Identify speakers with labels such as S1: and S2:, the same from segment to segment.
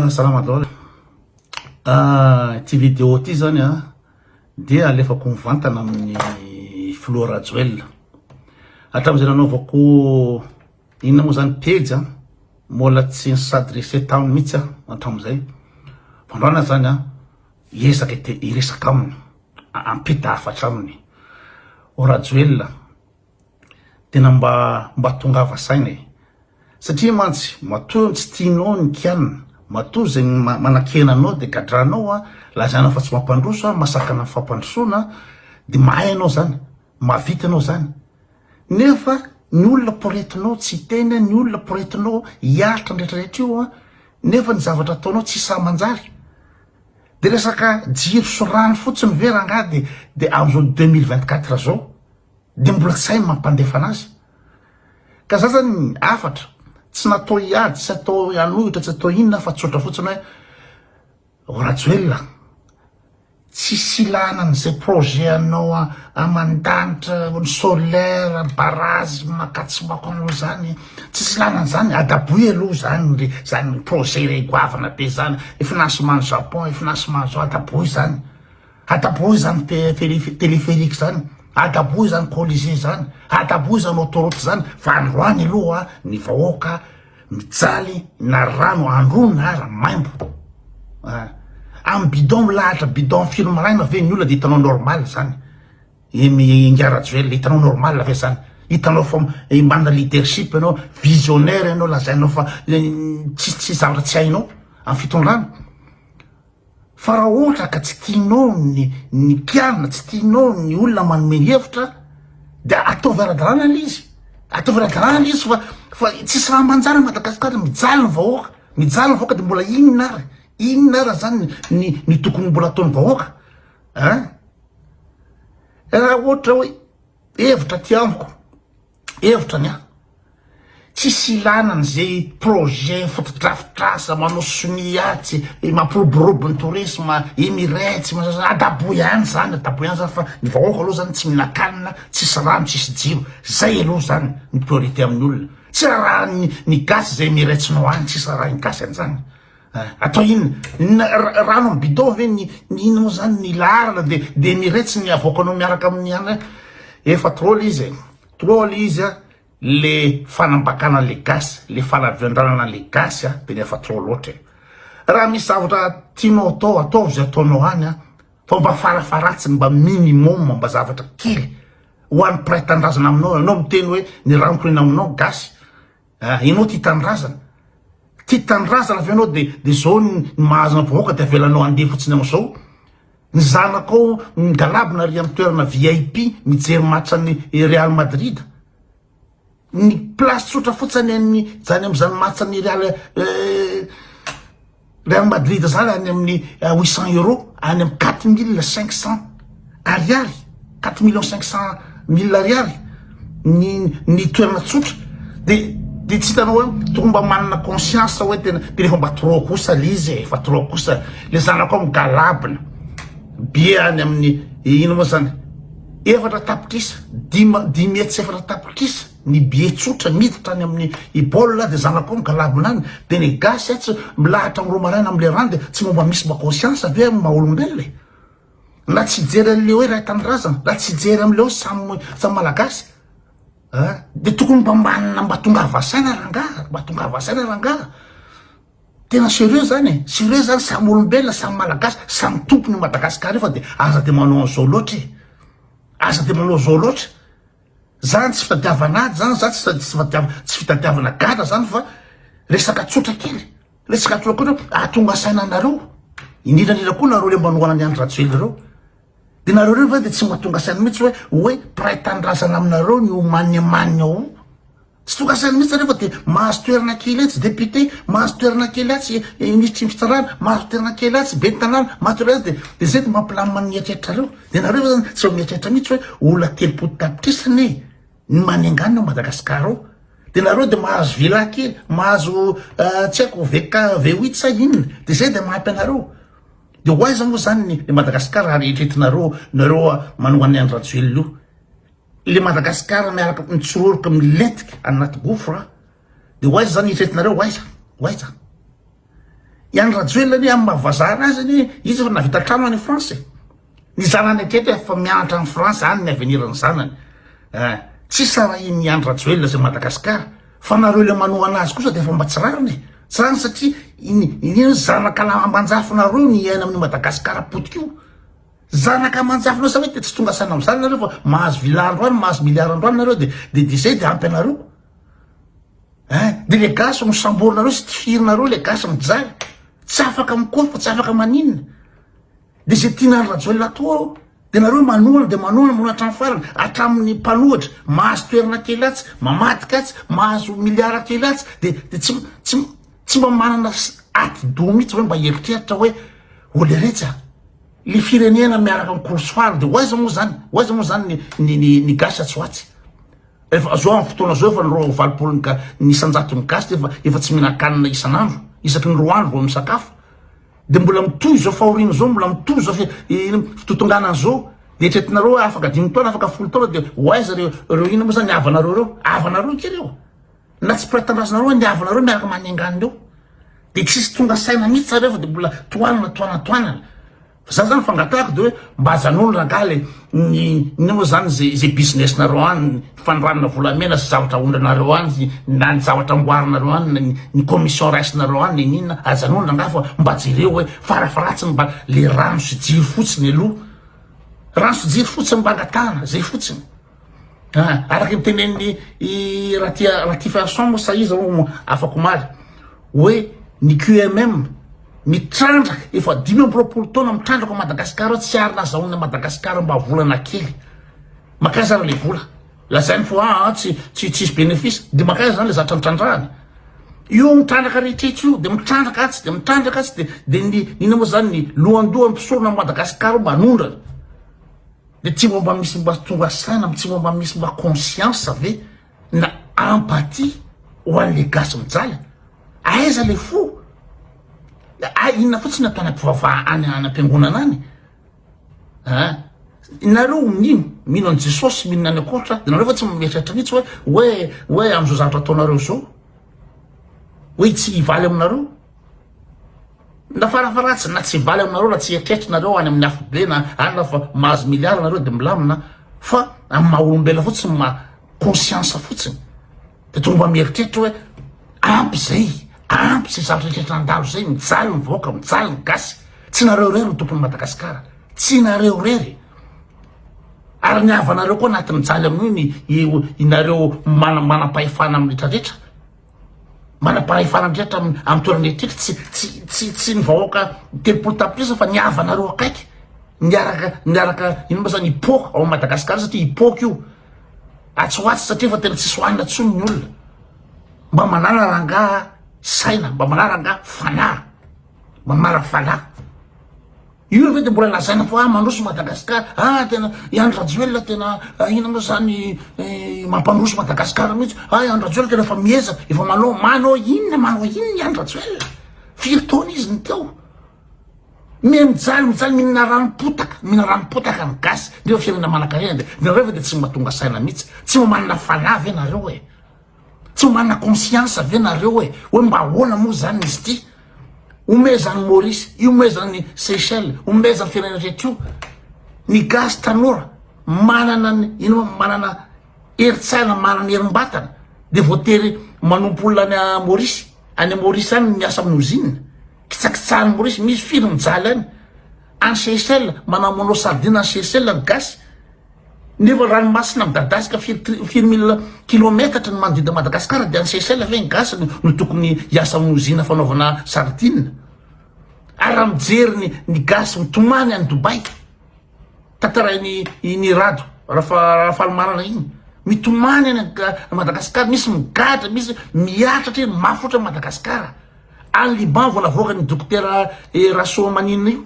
S1: Salama daholo, ity video ity zany an dia alefako mivantana amin'ny filoha Rajoelina, hatramin'izay nanaovako inona moa zany pejy an, mbola tsy ni s'adresser taminy mihintsy aho hatramin'izay, vao androany aza zany an hiezaka hiresaka aminy, hampita hafatra aminy, oh Rajoelina. Tena mba mba tongava saina e! Satria mantsy matoa ny tsy tianao ny kianina, matoa izay manakena anao dia gadranao an, lazaina fa tsy mampandroso an, masakana ny fampandrosoana an, dia mahay ianao izany, mahavita ianao izany, nefa ny olona poretinao tsy hiteny an, ny olona poretinao hiaritra ny retraretra io an, nefa ny zavatra ataonao tsy sahy manjary. Dia resaka jiro sy rano fotsiny ve rangaha dia dia amin'izao deux mille vingt quatre izao de mbola zay mampandefana azy ka za zany afatra tsy natao hiady tsy atao hanohitra tsy atao inona fa tsotra fotsiny hoe o rajoelina tsisy ilana an'izay projet anao aman-danitra ny solaire barazy makatsibako anao zany tsisy ilana an'izany adaboy aloha zany le zany projet re goavana be zany efinasy mano japon efinasy mano zao adaboy zany Adaboy izany téléphérique izany, adaboy izany colisée izany, adaboy izany autoroute izany fa androany aloha ny vahoaka mijaly na rano andro na ara maimbo a! Amin'ny bidon milahatra bidon firy maraina ve ny olona dia hitanao normal izany? Ingahy Rajoelina, hitanao normal ve izany? Hitanao fa manana leadership ianao, visionnaire ianao, lazainao fa tsisy zavatra tsy hainao amin'ny fitondrana? Fa raha ohatra ka tsy tianao ny ny mpianina, tsy tianao ny olona manome hevitra dia ataovy ara-dalàna ilay izy, ataovy ara-dalàna ilay izy fa fa tsy sahy manjary Madagasikara, mijaly ny vahoaka, mijaly ny vahoaka dia mbola inona ary, inona ary zany ny ny tokony mbola ataon'ny vahoaka an! Raha ohatra hoe hevitra aty amiko. Hevitra ny ahy, tsisy ilana an'izay projet fotodrafitrasa manao sonia tsy mampiroborobo ny tourisme, Emirates, adaboy ihany zany, adaboy ihany zany fa ny vahoaka aloha zany tsy mihinan-kanina, tsisy rano, tsisy jiro, zay aloha zany ny priorité amin'ny olona, tsy rarahan'ny ny gasy izay Emirates-nao any, tsisy rarahan'ny gasy an'izany. Atao inona? Rano amin'ny bidon ve ny inona moa zany ny laharana de de miretsy ny avoakanao miaraka amin'ny anay? Efa trop le izy e, trop le izy a, le fanambakana an'le gasy, le fanaviandranana an'le gasy a tena efa trop loatra e! Raha misy zavatra tianao atao, ataovy izay ataonao any a, fa mba farafaharatsiny mba minimum mba zavatra kely ho an'ny mpiray tanindrazana aminao, ianao miteny hoe ny rano toy ny aminao gasy, Ah enao tia tanindrazana? Tia tanindrazana ve enao de de zao ny mahazo ny vahoaka de avelanao andeha fotsiny ao zao? Ny zanakao migalabona ary amin'ny toerana vip mijery match an'ny Real Madrid? Ny place tsotra fotsiny an'ny zany amin'izany match an'ny Real eh. Real Madrid zany any amin'ny eh, huit cent euros any amin'ny quatre mille cinq cent ariary quatre millions cinq cent mille ariary ny ny toerana tsotra de de tsy hitanao hoe tokony mba manana conscience hoe tena de rehefa mba trop kosa le izy e, efa trop kosa le zanako amin'ny galabina be any amin'ny eh, ino moa zany efatra tapitrisa dima dimy hetsy efatra tapitrisa Ny billets tsotra miditra any aminy i Paul dia zanako ao migalabona any dia ny gasy atsy milahatra am romaraina am lerany dia tsy momba misy mba conscience ve am maha olombelona e? Na tsy hijery anle hoe iray tanindrazana na tsy hijery amle hoe samy samy malagasy a dia tokony mba manana mba tongava saina rangaha mba tongava saina rangaha tena serieux zany e serieux zany samy olombelona samy malagasy samy tompony madagasikara io fa dia aza dia manao anzao loatra e aza dia manao zao loatra Zany tsy fitadiavan'ady zany, zany tsy tsy fitadiavana gadra zany fa resaka tsotra kely, resaka tsotra kely hoe ahatonga saina anareo, indrindra indrindra koa nareo le manohana an'i Andry Rajoelina reo, de nareo reo ve de tsy mahatonga saina mihitsy hoe hoe mpiray tanindrazana aminareo ny ho manimanina ao? Tsy tokansainy mihitsy anefa dia mahazo toerana kely etsy député, mahazo toerana kely atsy minisitry ny fitsarana, mahazo toerana kely atsy ben'ny tanàna, mahazo toerana atsy dia dia zay dia mampilamina ny eritreritrareo. Dia nareo ve zany tsy eo mieritreritra mihitsy hoe olona telopolo tapitrisa anie ny manenganina ao Madagasikara ao. Dia nareo dia mahazo villa kely, mahazo tsy haiko VK V huit sa inona dia zay dia mahampy anareo. Dia ho aiza moa zany ny Madagasikara raha eritreretinareo nareo manongana an'i Rajoelina io. le Madagascar miaraka mitsiroroka milentika any anaty gouffre a de ho aiza zany hifetinareo ho aiza ho aiza i Andry Rajoelina anie amin'ny maha vazaha anazy anie izy efa navita trano any France e ny zanany hatreto efa mianatra any France any ny avenir ny zanany eh tsy sarahin'i Andry Rajoelina zay Madagascar fa nareo le manohana azy kosa de efa mba tsy rariny e tsy rariny satria iny iny zanaka ambanjafinareo ny hiaina amin'i Madagascar potika io Zanaka aman-jafina sa hoe te tsy tonga saina amzany nareo fa mahazo villa andro any mahazo milliard andro any nareo de de de zay de ampy anareo eh de le gasy no samborinareo sy tifirinareo le gasy mijaly tsy afaka mikofa tsy afaka maninona de zay tian'andry rajoelina atao ao de nareo manohana de manohana manohana hatramin'ny farany hatramin'ny mpanohatra mahazo toerana kely atsy mamadika atsy mahazo milliard kely atsy de de tsy tsy tsy mba manana ati-doha mihitsy hoe mba eritreritra hoe oleretsy a Ny firenena miaraka amin'ny kolosoara dia ho aiza moa izany? Ho aiza moa izany ny ny ny gasy atsy ho atsy? Efa zao amin'ny fotoana zao efa ny roa amby valopolo ny ga- ny isan-jaton'ny gasy dia efa efa tsy mihinan-kanina isan'andro, isaky ny roa andro vao misakafo. Dia mbola mitohy izao fahoriana izao, mbola mitohy izao fi- i- ino fitotonganana izao. Dia eritreretinareo hoe afaka dimy taona, afaka folo taona dia ho aiza ireo ireo inona moa izany ny havanareo ireo? Havanareo akia ireo. Na tsy mpila tanindrazanareo hoe ny havinareo miaraka manenga an'ireo dia tsisy tonga saina mihitsy zareo fa dia mbola tohanana tohanana tohanana fa za zany fangatahako dia hoe mba ajanony rangaha le ny ny moa zany ze ze business nareo any fandrarana volamena sy zavatra ahondranareo any na ny zavatra amboarinareo any na ny ny commission raisinareo any na inona ajanony rangaha fa mba jereo hoe farafaharatsiny mba le rano sy jiro fotsiny aloha rano sy jiro fotsiny mba angatahana zay fotsiny Araka ny tenenin'i Ratia Ratifiarison moa sahiza ho afakomaly hoe ny QMM mitrandraka efa dimy amby roapolo taona mitrandraka Madagasikara tsy ary nazahoana Madagasikara mba volana kely. Makaiza ary le vola lazainy fa ah, ah tsy tsy tsisy benefisa de makaiza zany le zatra nitrandrahana. Io mitrandraka rehetra etsy io de mitrandraka atsy de mitrandraka atsy de de ny inona moa zany ny lohandohan'ny mpisorona Madagasikara manondrana. Dia tsy mba misy mba tonga saina, tsy mba misy mba conscience ve na empathie ho an'ilay gasy mijaly? Aiza ilay fo? Hay inona fotsiny atao any am-pivavahana any any am-piangonana any an! Nareo mino mino an'i Jesosy, mino any an-koatra, dia nareo ve tsy mieritreritra mihitsy hoe hoe hoe amin'izao zavatra ataonareo izao hoe tsy hivaly aminareo? Na farafaharatsiny na tsy valy aminareo na tsy eritreritrinareo any amin'ny afobe na anona fa mahazo milliards nareo de milamina fa amin'ny maha olombelona fotsiny maha conscience fotsiny de tonga mba mieritreritra hoe ampy zay ampy zay zavatra eritreritra nandalo zay mijaly ny vahoaka mijaly ny gasy tsy nareo irery ny tompon'i Madagasikara tsy nareo irery ary ny havanareo koa anatin'ny jaly amin'io ny inareo manam-pahefana amin'ny retraretra Manam-pahefana ndrehitra amin'ny toerana etiky tsy tsy tsy ny vahoaka telopolo tapitrisa fa ny havanareo akaiky miaraka miaraka ino moa zany hipoka ao Madagascar satria hipoka io atsy ho atsy satria efa tena tsisy hoanina tsony ny olona mba manana rangaha saina mba manana rangaha fanahy mba manana fanahy Io ve de mbola lazaina fa ah mandroso Madagascar ah tena i Andry Rajoelina tena ino moa zany mampandroso Madagascar mihitsy ah i Andry Rajoelina tena efa miezaka efa manao manao inona manao inona i Andry Rajoelina firy taona izy ny teo me mijaly mijaly mihinana ranom-potaka mihinana ranom-potaka ny gasy ndefa firenena manankarena de nareo ve de tsy mahatonga saina mihitsy tsy mamanana fanahy ve nareo e Tsy mana conscience ve nareo hoe hoe mba ahoana moa zany izy ity? Omezan'i Maurice, iomezan'i Seychelles, omezan'ny firenena rehetra io. Ny gasy tanora manana ny ino manana herin-tsaina, manana herim-batana dia voatery manompo olona any Maurice, any Maurice any miasa amin'ny ozinina. Kitsakitsahan'i Maurice misy firy mijaly any any Seychelles manamonao sardine any Seychelles ny gasy nefa ranomasina midadasika firy firy mille kilometatra ny manodidina Madagascar dia any Seychelles ve ny gasy no tokony hiasa amin'ny ozina fanaovana sardine ary raha mijery ny ny gasy mitomany any Dubaï tantarain'i iny Rado Rafa Rafalimanana iny mitomany any Madagascar misy migadra misy miatratra eny mafy ohatran'i Madagascar Any Liban vao navoakan' i Dokotera eh, Rasoamaninina io.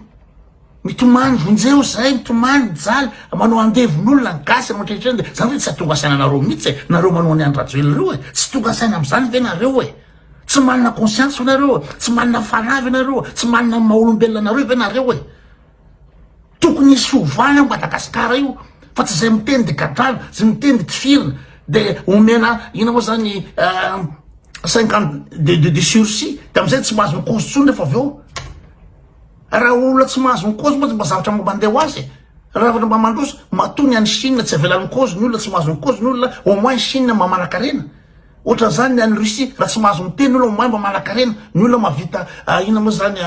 S1: Mitomany vonjeo zay, mitomany mijaly, manao andevon' olona ny gasy anao ankehitriny dia zany ve tsy atonga saina anareo mihitsy eh, nareo manao ny any Rajoelina reo eh, tsy tonga saina amizany ve nareo eh? Tsy manana conscience ve nareo eh? Tsy manana fanahy ve nareo eh? Tsy manana ny maha olombelona anareo ve nareo eh? Tokony hisy fiovana io Madagasikara io fa tsy izay miteny dia gadrana, izay miteny dia tifirina, dia omena inona moa izany euh, cinquante de de de sursis, dia amin'izay tsy mahazo mikozy intsony rehefa avy eo. Raha olona tsy mahazo mikozy moa tsy mba zavatra mba mandeha ho azy e. Raha zavatra mba mandroso, matoa ny any Chine tsy avelan'ny mikozy ny olona, tsy mahazo mikozy ny olona, au moins Chine mba manan-karena. Ohatran'izany ny any Russie raha tsy mahazo miteny ny olona mahay mba manankarena ny olona mahavita inona moa zany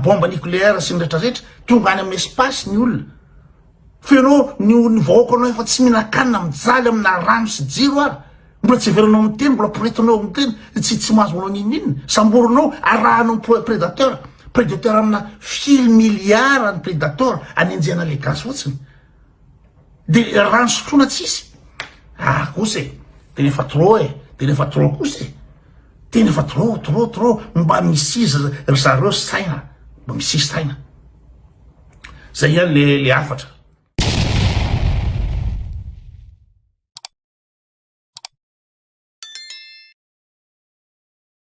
S1: bomba nucléaire sy ny retraretra tonga any amin'ny espace ny olona fa ianao ny ny vahoaka anao efa tsy mihinan-kanina mijaly amina rano sy jiro ary mbola tsy heveranao miteny mbola poretinao miteny tsy tsy mahazo manao n'inon'inona samborinao arahanao prédateur prédateur amina firy milliard ny prédateur anenjehana le gasy fotsiny Dia rano sotroina tsisy. Ah kosa e, tena efa trop e, tena efa trop kosa e. Tena efa trop, trop, trop, mba misy izy ry zareo saina, mba misy izy saina. Zay ihany le le hafatra.